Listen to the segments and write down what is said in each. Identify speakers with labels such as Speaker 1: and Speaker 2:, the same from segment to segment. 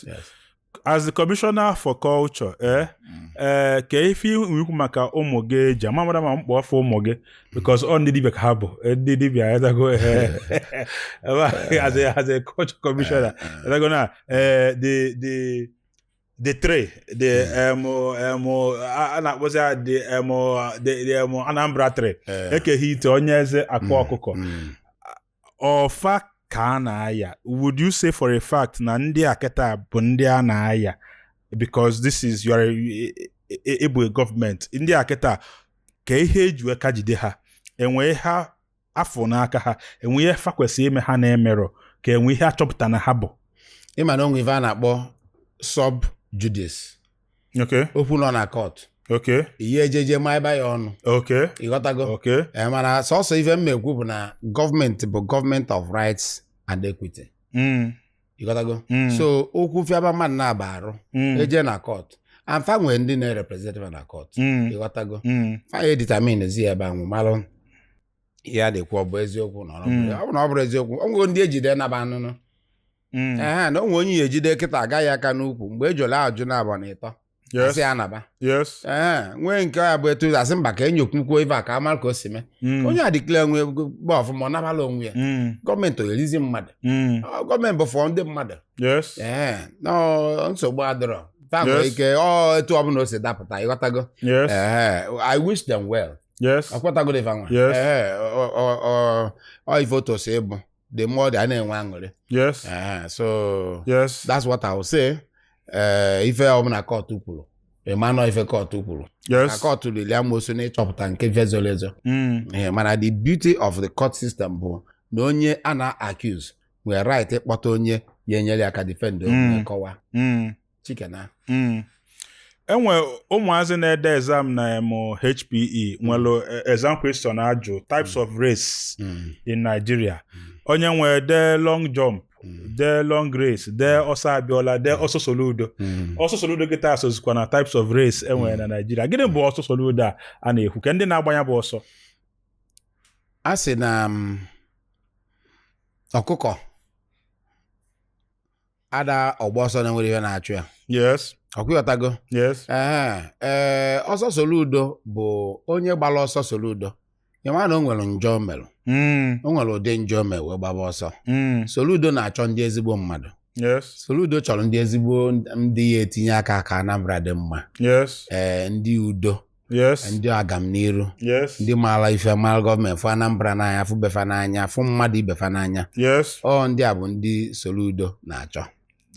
Speaker 1: yes. yes. as the commissioner for culture eh mm. eh kee ife ị ya-ekwu maka ụmụ gị eji ama mara ma m kpọọ fa ụmụ gị because ọ ndị dibịa ka ha bụ eh, ndị dibịa adago eh, eh, as a as a culture commissioner adago na eh the the the three the um um a na-akpọzi ya the um the um Anambra three Eke Hit Onyeeze Akwa mm, ọkụkọ mm. ọ fa ka a na-aya would you say for a fact na ndị a kịta bụ ndị a na-aya because this is your ị bụ e, e, e, gọọmenti ndị a kịta kee ihe e ji aka jide ha e nwee ihe a fụ n'aka ha e nwe ihe fa kwesịrị ime ha na-emerọ ka e nwe ihe a chọpụta na ha bụ ị ma na o nwe ife
Speaker 2: a na-akpọ sub judice okay okwu nọ na kọt okay ihe ejeje ma ịba ya ọnụ okay ịghọtago okay Eh, mana sọsọ ife m na-ekwu bụ na gọọmenti bụ gọọmenti of rights and equity mm. ịghọtago Mm. so okwu fiaba mmadụ naabọ arụ mm. eje na kọt and fa nwee ndị na-erepresentị fa na kọt mm. ịghọtago mm. fa ya-edeterminezi ebe ahụ malụ ihe a na-ekwu ọ bụ eziokwu na ọ Mm. bụrụ ọ bụ na ọ bụrọ eziokwu o nwego ndị e jide nabaa n'ụnọ Mm. ehe na o nwe onye a ya-ejide kịta agaghị aka n'ukwu mgbe ejole ajụ naabọ na ịtọ Yes. a sị ya naba Yes. ee nwee nke ya bụ etu a sị mba ka e nyokwukwuo ife a ka a mara ka o si mee Mm. onye a declare onwe ya ọfụma ọ nabala onwe ya Mm. gọọmenti ọ ya-erizi mmadụ Mm. Ọ, gọọmenti bụ for ndị mmadụ Yes. ee no nsogbu adịrọ fa nwere Yes. ike ọ etu ọbụla o si dapụta ịghọtago Yes. ee i wish them well Yes. ọkwatago dị fa nwa Yes. ee ọ- ọ- ọ- ọ ife otu o si ịbụ the more a na-enwe aṅụrị yes ah, so yes that's what I will say eh, ife ọbụla kọtụ kwuru ị manụ ife kọtụ kwuru yes kọtụ lili amosu n'ịchọpụta nke va zoro ezo mm. eh, mana the beauty of the court system bụ na onye a na-accuse nwere right ịkpọta onye ya-enyere ya aka defend onwe mm. kọwa mm. chikena
Speaker 1: hmm. e nwe ụmụazị na-ede exam na em HPE hmm. nwere eh, exam question a jụ types of race in Nigeria onye wee dee long jump Mm. dee long race dee mm. ọsọ Abiola dee mm. ọsọ soludo ọsọ soludo kịta esozikwa na types of race e nwere na Naịjirịa gịnị bụ ọsọ soludo a a na-ekwu kee ndị na-agba nya bụ
Speaker 2: ọsọ a sị na um, ọkụkọ ada agba ọsọ na e nwerọ ihe na-achụ ya yes ọ kwa ịghọtago yes ee ee ọsọ soludo bụ onye gbara ọsọ soludo ya ma na o nwere njọ o mere mm, o nwere ụdị njọ o mere wee gbaba ọsọ mm, soludo na-achọ ndị ezigbo mmadụ yes soludo chọrọ ndị ezigbo ndị ya-etinye aka ka anambra dị mma yes ee ndị udo yes ndị agamniru yes ndị maara ife mara gọọmenti fụ anambra n'anya fụ befa n'anya fụ mmadụ ibefa n'anya yes ọ ndị a bụ ndị soludo na-achọ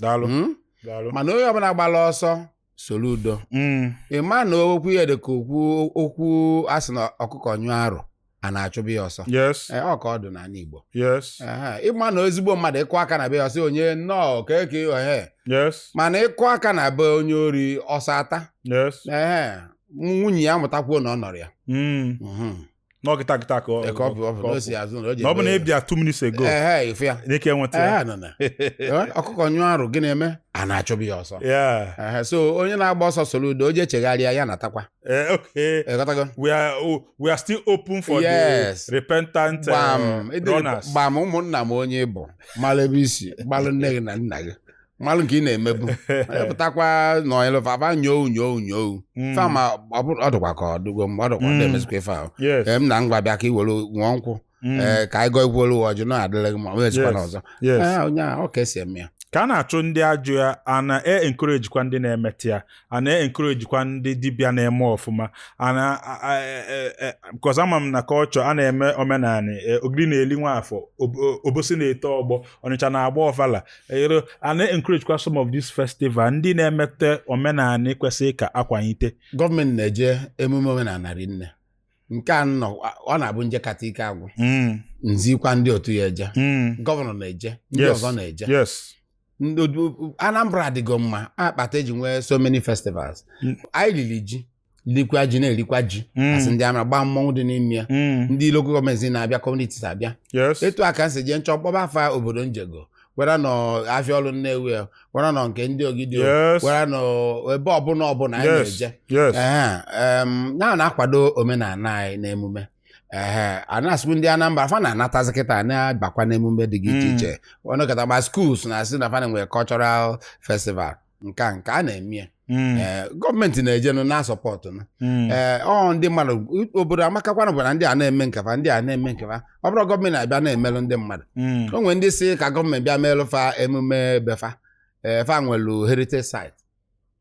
Speaker 2: daalụ Mm? daalụ mana onye ọbụla gbara ọsọ soludo Mm, ị ma na okwu ya dị ka okwu okwu a sị na ọkụkọ nyụọ arụ ana achụba ya ọsọ yes Ee, ọ ka ọ dị n'ala Igbo yes Ehe, ịma na ezigbo mmadụ ị kụọ aka na be ya ọ sị onye nnọọ keke ehe yes mana ị kụọ aka na be onye ori ọsọ ata yes Ehe, nwunye ya apụta kwuo na ọ nọrọ ya Mm.
Speaker 1: Mhm. na ọ kịta kịta ka ọ- Eke ọ bụ ọ bụ ka na ọ o si azụ na o ji na ọ bụ na ebe ya. ị bịa two minutes ago Ehe, ị fụ ya na ị ka-enweta ya Ehe, nọ na. Ee, ọkụkọ nyụọ arụ
Speaker 2: gịnị na-eme ana achụba ya ọsọ Yeah. Ehe, so onye na-agba ọsọ soludo o je chegharịa ya natakwa Eh, okay. Eh, got go. We
Speaker 1: are oh, we are still open for yes. the repentant eh, gbam, uh, runners. Gbam ụmụnna m
Speaker 2: onye ọbụ malụ ebe i si malụ nne gị na nna gị malụ nke ị na-emebu pụtakwa nọnyelụ faba nyoo nyoo nyoo hmm. fama ọ dịkwa ka ọ dịgo mgbe ọ dịkwa ọ hmm. na-emezikwa ife ahụ m na ngwa bịa ka i were ṅụọ nkwụ Mm. ee ka anyị gọọ i welụ ọjị na adịla gị ma ọ mezikwa Yes. n'ọzọ Yes. Ee, onye a ọ ka e si eme ya ka a na-achụ ndị
Speaker 1: ajọ ya a na-encourage kwa ndị na-emeta ya a na-encourage kwa ndị dibịa na-eme ọfụma a na a- a- e- e- e- because ama m na culture a na-eme omenala e, ogidi na-eli nwafọ ob- o- obosi na-eto ọgbọ ọnịcha na-agba ọfala ero a na-encourage kwa some of these festival ndị na-emete omenala kwesịrị ka a kwanyite gọọmenti na-eje
Speaker 2: emume omenala rinne nke a na ọ na-abụ m jekata ike agwụ Mm. m zikwa ndị otu ya eje Mm. gọvanọ na-eje ndị Yes. ọzọ na-eje Yes. Ndị odu- anambra adịgo mma akpata eji nwee so many festivals Mm. anyị lili ji likwa ji na-erikwa ji Mm. a sị ndị ama gbaa mmọnwụ dị n'ime ya Mm. ndị local gọọmenti na-abịa communities abịa Yes. etu a ka m si jee m chọọ kpọba afa obodo m jego whether na ọ afịa ọlụ nnewi a, whether na ọ nke ndị ogidi Yes. whether na ọ ebe ọbụla ọbụla anyị yes na-eje yes Ehe, em, ya na-akwado omenala anyị na emume ehe a na-asịkwu ndị Anambra fa na-anatazi kịta na-abakwa n'emume dị iche Mm. iche ọnụkọta ma schools na-asị na fa na-enwe cultural festival nke a nke a na-eme ya Mm, Ee, gọọmenti na-ejenụ na-asupport na mm, ee ọ ndị mmadụ obodo amakakwana bụ na ndị a na-eme nkefa ndị a na-eme nkefa ọ bụrọ gọọmenti abịa na-emelụ ndị mmadụ mm, o nwere ndị sị ka gọọmenti bịa meelụ fa emume befa ee fa nwelu heritage site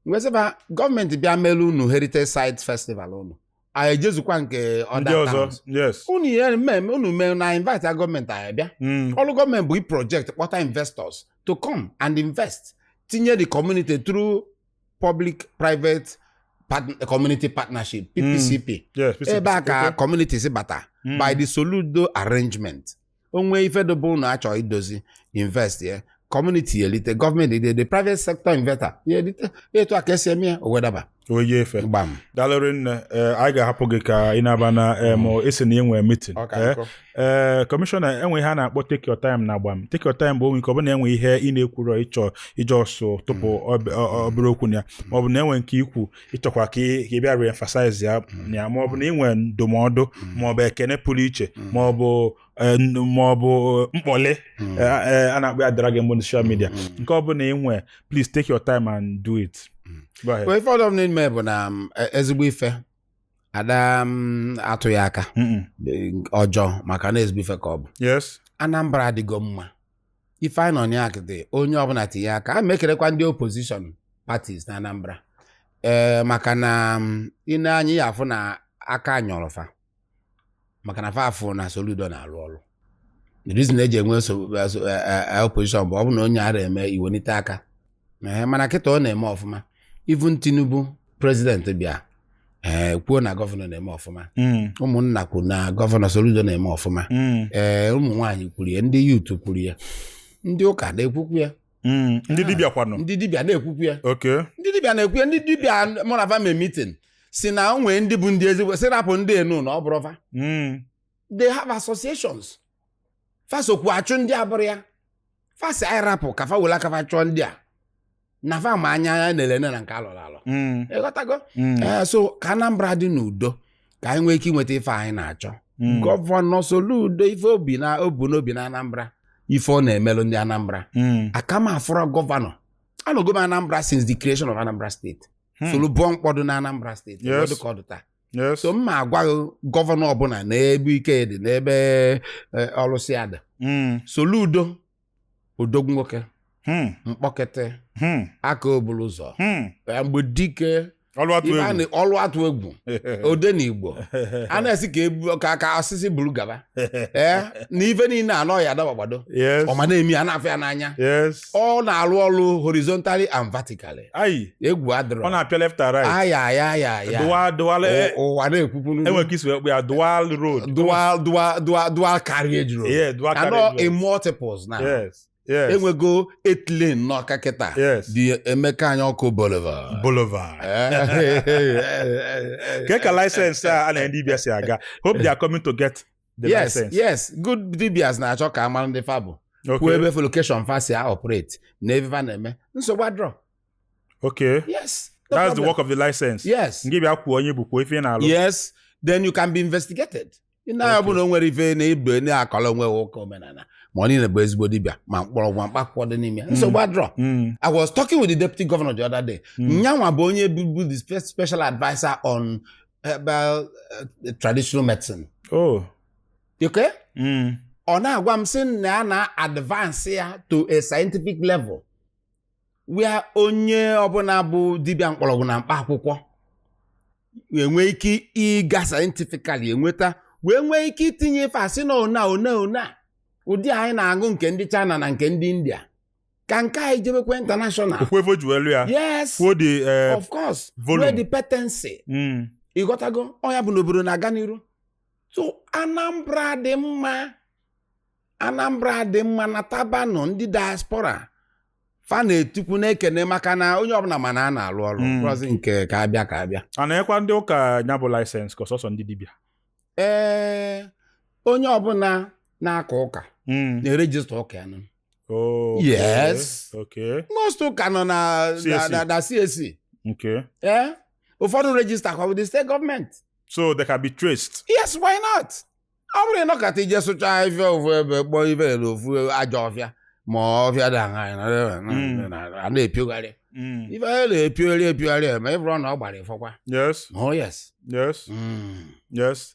Speaker 2: m wee sị fa gọọmenti bịa meelụ unu heritage site festival unu anyị ejezukwa nke ndị other ọzọ towns yes unu ihe mmemme unu mee na invite gọọmenti anyị bịa Mm. ọrụ gọọmenti bụ ị project kpọta investors to come and invest tinye the community through public private part- community partnership ppcp yes ebe a ka community si bata Mm. by the soludo arrangement o nwee ife dobe ụnụ achọ idozi invest ya kọmuniti ya elite gọọmenti dị the private sector investor ya elite etu a ka esi eme ya o wedaba oyi efe gbam
Speaker 1: dalụ rinne ee, anyị ga-ahapụ gị ka ị na-aba na em, a sị na ị nwe mitin Ọ ka nkọ. ee kọmishọna e nwe ihe a na-akpọ take your time na agbam take your time bụ o nwee nke ọ bụna e nwe ihe ị na-ekwurọ ị chọ iji ọsọ tụpụ ọb- ọ- ọ- obere okwu na ya maọbụ na e nwe nke i kwu ị chọkwa ka ị bịa re-emphasize ya mm. ya ma ọ bụ na ị nwe ndụmọdụ mm. ma ọ bụ ekene pụrụ iche mm. ma ọ bụ e, ma ọ bụ e, mkpọlị e, a na-akpọ ya dragging ugbu a na social media nke ọ bụna ị nwe please take your time and do it ife
Speaker 2: ọdọ m n'ime bụ na um, ezigbo ife ada um, atụ ya aka ọjọọ maka na ezigbo ife ka ọ bụ Anambra adịgo mma Ife anyị nọ na ya kịta onye ọbụna tinye aka ana m ekenekwa ndị opposition parties na Anambra ee maka na ị nee mm, anya ị ya-afụ na aka nyọrọ fa maka na fa afụ na Soludo na-alụ ọlụ the reason e ji enwe eh, eh, eh, opposition bụ ọ bụ na onye arọ eme i wenite aka ee mana kịta ọ na-eme ọfụma even Tinubu prezident bịa ee kwuo na gọvanọ na-eme ọfụma mm. ụmụnna kwuru na gọvanọ Soludo na-eme ọfụma mm. ee ụmụ nwaanyị kwuru ya ndị youth kwuru ya ndị ụka na-ekwukwu ya mm. ndị
Speaker 1: dibịa kwanụ ndị dibịa na-ekwukwu
Speaker 2: ya ndị dibịa na-ekwu ya ndị dibịa mụ na va mee mitin sị na o nwee ndị bụ ndị ezigbo sị rapụ ndị enu na ọ bụrọ va they have associations fa sokwu achụ ndị abụrọ ya fa sị anyị rapụ ka fa were aka fa chụọ ndị a na fa ma anya ya na-ele nne na nke alọrọ alọ Mm, ịghọtago mm, ee so ka anambra dị n'udo ka anyị nwee ike inweta ife anyị na-achọ mm, gọvanọ Soludo ife obi na o bu n'obi na anambra ife ọ na-emelụ ndị anambra mm, aka m afụrọ gọvanọ anọgo m anambra since the creation of anambra steeti Hmm. solu bụọ mkpọdụ na anambra steeti Yes. ọ dụ ka ọ dị taa Yes. so m ma agwa gọvanọ ọbụla n'ebe ike dị n'ebe eh, ọlụ si ada Mm. Soludo odogwu nwoke Hmm. mkpọkiti Hmm. ọkaa ọ bụrụ ụzọ Hmm. Eh, mgbedike ọlụ atụ ibe a egwu na- ọlụ atụ egwu odenigbo a na-esi ka ebu- ka ka osisi buru gaba ee na ife niile anọ ya adabagbado yes ọma na-eme a na-afụ ya n'anya yes ọ na-alụ ọlụ horizontally and vertically ayi egwu adịrọ ọ na-apịa left and
Speaker 1: right aya aya aya aya dual dual Ụ- eh,
Speaker 2: ụwa na-ekwukwuru e nwere ka i si wee kpụ ya dual road dual dual dual dual carriage road yeah dual anọ carriage in road. multiples na yes yes e nwego eight lane n'Ọka kịta yes the Emeka Anyaọkụ boulevard boulevard Eh,
Speaker 1: kee ka license a a na-enye ndị dibịa si aga hope they are coming to get the yes license. yes good
Speaker 2: dibias na-achọ ka a mara ndị fa bụ kwuo Okay. ebe fa location fa si a operate na ebe fa na-eme nsogbu adrọ Okay.
Speaker 1: yes no That's
Speaker 2: the problem. work of the
Speaker 1: license. yes Ngị bịa kwuo onye
Speaker 2: ị bụ kwuo ife
Speaker 1: ị na-alụ. yes then you
Speaker 2: can be investigated na nya Okay. bụ na o nwere ife na ibe na-akọrọ onwe ha ụka omenala ma onye bụ ezigbo dibịa ma mkpọrọgwụ ma mkpaakwụkwọ dị n'ime ya. nsogbu adrọ Mm. I was talking with the deputy governor the other day. Mm. Nyanwa bụ onye bụbu the spe- special adviser on herbal eh, traditional
Speaker 1: medicine Oh.
Speaker 2: okay? Mm. ọ na-agwa m sị na ya na-advance ya to a scientific level where onye ọbụla bụ dibịa mkpọrọgwụ na mkpa akwụkwọ enwee ike ịga scientifically enweta wee nwee ike itinye ife a sị na ọ na ọ na ọ na ụdị anyị na-aṅụ nke ndị China na nke ndị India ka nke anyị jebekwa international okwefo ji welu ya yes kwuo dị eh, of course volume. where the patency mm, ịghọtago ọ nya bụ n'obodo na-aga n'iru so anambra dị mma anambra dị mma natabanụ ndị diaspora fa na-etokwu na-ekene maka na onye ọbụla ma na a na-alụ ọrụ Mm. plus nke ka abịa ka abịa a na-enyekwa ndị
Speaker 1: ụka ya bụ license ka ọ sọsọ ndị dibịa ee
Speaker 2: onye ọbụla na-aka ụka Mm, na-erejista ụka ya nụ Oh,
Speaker 1: okay.
Speaker 2: Yes. Okay.
Speaker 1: most ụka nọ
Speaker 2: na na- CAC. na- na CAC
Speaker 1: Okay. Eh?
Speaker 2: ụfọdụ register kwa with the state government
Speaker 1: So
Speaker 2: they can be traced. yes why
Speaker 1: not
Speaker 2: ọ bụrọ ị nọkata i je sụcha ahịfịa ofu ebe kpọọ ibe ya n'ofu ajọ ọfịa ma ọfịa dị aṅaa Mm. a na-epiogharị Mm. ife a na-epiogharị epiogharị ma ị bụrụ na ọ gbara ịfọkwa Yes. oh yes Yes. Mm.
Speaker 1: Yes.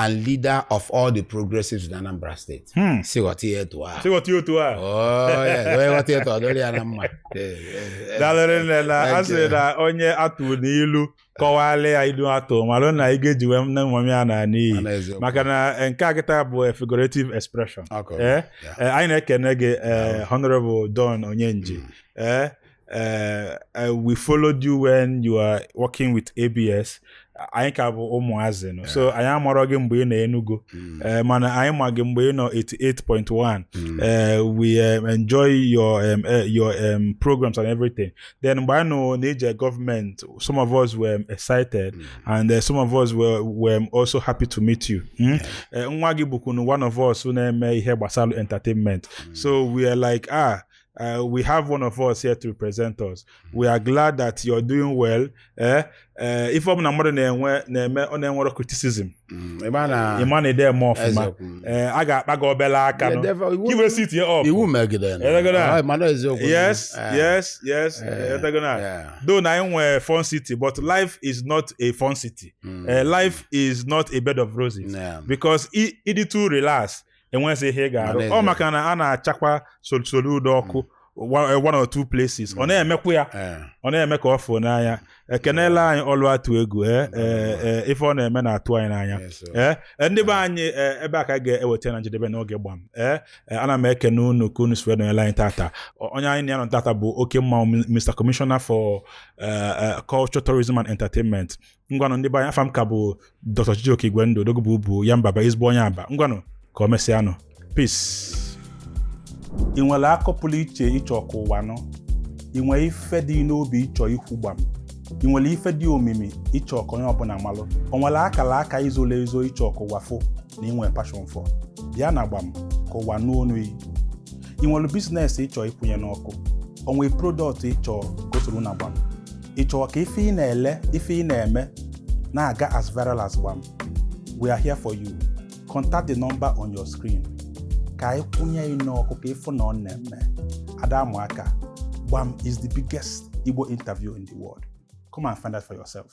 Speaker 2: and leader of all the progressives in Anambra State. Hmm. Si ghọta ihe etu a. Si ghọta ihe otu a.
Speaker 1: Oh, yes. Onye
Speaker 2: ghọta etu ọ dịrị ya na mma. Eh, eh, Daalụ rinne
Speaker 1: na a sị na onye a tụlụ ilu kọwara ya ilu a tụ malụ na ego e ji wee nne nwa m ya naa n'iyi Mana eziokwu. maka na eh, nke a kịta bụ eh, figurative expression. Okay. Eh, Yeah. eh, anyị na-ekene gị eh, Honorable Don Onyenji. Eh, Uh, uh, we followed you when you are working with ABS. anyị ka bụ ụmụazị nọ so anyị amarọ gị mgbe ị nọ Enugu mm. eh, mana anyị ma gị mgbe ị nọ 88.1 mm. eh, we um, enjoy your um, eh, your um, programs and everything then mgbe anyị nụ na i je government some of us were excited mm. and uh, some of us were, were also happy to meet you hmm? nwa gị bụkwunu one of us na-eme ihe gbasara entertainment so we are like ah Uh, we have one of us here to represent us. We are glad that you're doing well. Eh? Uh, ife ọbụla mmadụ na-enwe na-eme ọ na-enwere criticism Mm, ebe a na- ị ma na ide eme ọfụma Eziokwu. Mm. Eh, a ga-akpa gị obele aka Yeah, nụ. therefore, iwu- ị wee sit ya up ị wee megide ya.
Speaker 2: Elegoro a. Ah, mana eziokwu.
Speaker 1: yes Eh, yes yes eh, Eh, elegoro a. yeah. though na anyị nwee fun city but life is not a fun city Mm. Eh, life is not a bed of roses Yeah. because i- ị dị too relax enweghịzi ihe ị ga-arụ N'ezie. ọ maka na a na-achakwa Sol- Soludo ọkụ one one or two places ọ na-emekwa ya Eh, ọ na-eme ka ọ fụo n'anya kenelụ anyị ọlụ atụ egwu eh, eh, eh, ife ọ na-eme na-atụ anyị n'anya yes, sir. ee e, ndị be anyị e, ebe a ka anyị ga-eweta na njedebe n'oge gbam ee e, ana m ekene unu ka unu si wee nọnyere anyị tata O- onye anyị na ya nọ tata bụ oke mmanwụ M- Mr. Commissioner for eh, eh, Culture, Tourism and Entertainment ngwanụ ndị be anyị afa m ka bụ Dr. Chijioke Igwendu odogwu bụ ubu ya mbaba ezigbo onye Aba ngwanụ ka o mesịanụ peace ị nwere akọ pụlụ iche ị chọ ka ụwa nụ ị nwere ife dị n'obi ị chọ ikwu gbam ị nwere ife dị omimi ị chọ ka onye ọbụla malụ o nwere akala aka i zolu ezo ị chọ ka ụwa fụ na ị nwere passion for bịa na gbam ka ụwa nụ onu yị ị nwere business ị chọ ịkwụnye n'ọkụ o nwere product ị chọ ka o soro na gbam ị chọrọ ka ife ị na-ele ife ị na-eme na-aga as viral as gbam we are here for you contact the number on your screen ka anyị kwụnye yị n'ọkụ ka ị fụ na ọ na-eme a da-amụ aka gbam is the biggest Igbo interview in the world come and find out for yourself